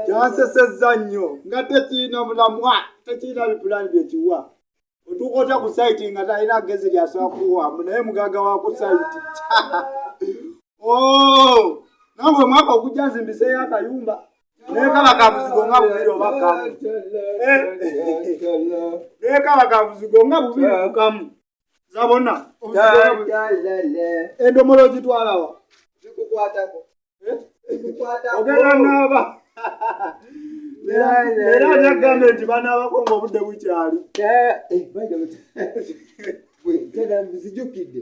kyansesezza nnyo nga tekirina mulamwa tekirina bipulaani byekiwa otuuka otya ku saiti nga talina gezi lyasobola kuwamu naye mugaga wa ku saiti oh! nangwe mwaka okujja nzimbiseyo akayumba naye kaba kabuzigo nga bubiri oba kamu eh? naye kaba kabuzigo nga bubiri kukamu zabona endomolo ogitwalawa eh? ogenda naaba era nagamba nti banaabako nga obudde bukyali eh, eh, nzijukidde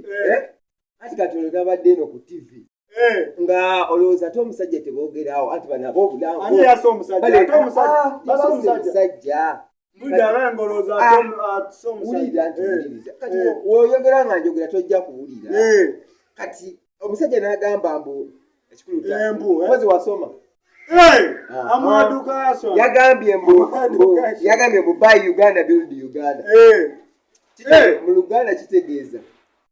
ati kati olwo nabadde eno ku tivi Eh. nga olowooza ate omusajja teboogeraawo anti banaba obulamusajja woyogera nga njogera tojja kuwulira eh. kati omusajja nagamba mbu ekikuluozi eh, wasoma ah, ah. yagambye mbu by uganda build uganda mu luganda kitegeeza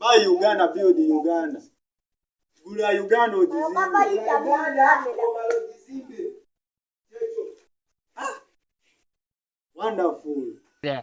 Buy Uganda, build Uganda. Gula Uganda ojizimbe. Ah! Wonderful. Yeah.